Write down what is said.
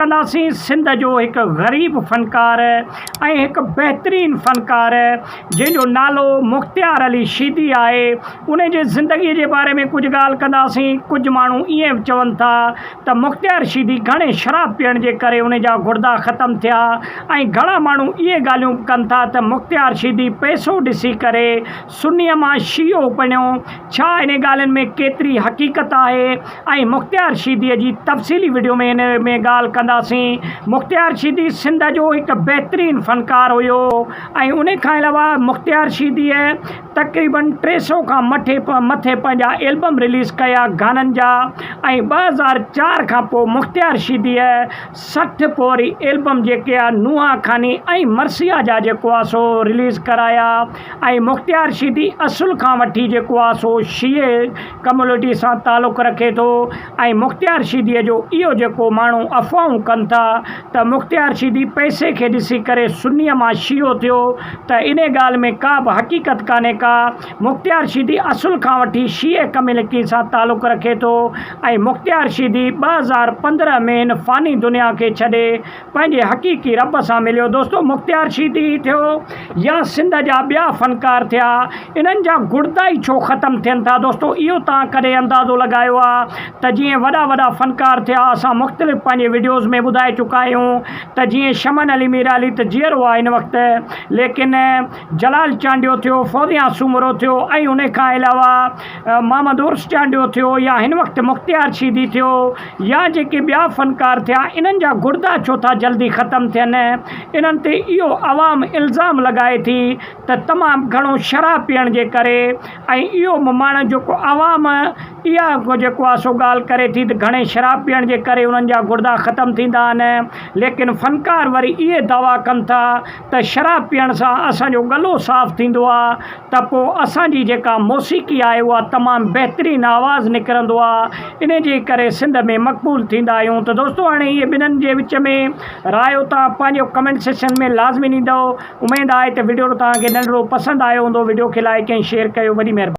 تلاسين سنڌ جو هڪ غريب فنڪار ۽ هڪ بهترين فنڪار جنهن جو نالو مختيار علي شيدي آهي ان جي زندگي جي باري ۾ ڪجهه ڳالهه ڪنداسين ڪجهه ماڻهو ائين چون ٿا ته مختيار شيدي گهڻي شراب پيئڻ جي ڪري ان جا گڙدا ختم ٿيا ۽ گهڻا ماڻهو اهي ڳالهيون به ڪن ٿا ته مختيار شيدي پئسو ڏسي ڪري سنيء مان شيعو بڻيو، ڇا انهن ڳالهين ۾ ڪيتري حقيقت آهي ۽ مختيار شيديء جي تفصيلي وڊيو ۾ ان ۾ ڳالهه ڪنداسين. مختيار شيدي سنڌ جو هڪ بهترين فنڪار هيو ۽ ان کان علاوه مختيار شيديء تقريباً ٽي سئو کان مٿي مٿي پنهنجا البم رليز ڪيا گانن جا ۽ ٻه هزار چار کان پوء مختيار شيديء سٺ پوري البم جيڪي آ نوحا خاني ۽ مرثيه جا جيڪو آ سو رليز ڪرايا ۽ مختيار شيدي اصل کان وٺي جيڪو آ سو شيعي ڪميونٽي سان تعلق رکي ٿو ۽ مختيار شيدي جو اهو جيڪو ماڻهو افواهون ڪن ٿا ته مختيار شيدي پئسي کي ڏسي ڪري سني مان شيعو ٿيو ته انهي ڳالهه ۾ ڪا به حقيقت ڪانهي ڪا مختيار شيدي اصل کان وٺي شيعي ڪميونٽي سان تعلق رکي ٿو ۽ مختيار شيدي ٻه هزار پندرهن ۾ هن فاني دنيا کي ڇڏي پنهنجي حقيقي رب سان مليو دوستو مختيار شيدي ئي ٿيو يا سنڌ جا ٻيا فنڪار ٿيا انهن جا گڙدا ئي ڇو ختم ٿين ٿا دوستو اهو توهان ڪڏهن اندازو لڳايو آ ته جيئن وڏا وڏا فنڪار ٿيا اسان مختلف پنهنجي وڊيوز ۾ ٻڌائي چڪا آهيون ته جيئن شمن علي ميرعلي ته جيئرو آ هن وقت ليڪن جلال چانڊيو ٿيو فوزيان سومرو ٿيو ۽ انهي کان علاوه محمد عرس چانڊيو ٿيو يا هن وقت مختيار شيدي ٿيو يا جيڪي ٻيا فنڪار ٿيا انهن جا گڙدا ڇو ٿا جلدي ختم ٿين انهن تي اهو عوام الزام لڳائي ٿي ته تمام گهڻو شراب پيئڻ جي ڪري ۽ اهو به ماڻهن جيڪو عوام اها جيڪو آهي سو ڳالهه ڪري ٿي ته گهڻي شراب پيئڻ جي ڪري انهن جا گڙدا ختم ٿيندا آهن ليڪن فنڪار وري اهي دعويٰ ڪن ٿا ته شراب پيئڻ سان اسان جو ڳلو صاف ٿيندو آ ته پو اسان جي جيڪا موسيقي آهي اها تمام بهترين آواز نڪرندو آ انهي جي ڪري سنڌ ۾ مقبول ٿيندا آهيون ته دوستو هاڻي اهي ٻنهن جي وچ ۾ رايو توهان پنهنجو ڪمينٽ سيڪشن ۾ لازمي ڏيندؤ اميد آهي ته وڊيو توهان کي ننڍڙو پسند آيو هوندو وڊيو کي لائيڪ ۽ شيئر ڪيو وڏي مهرباني.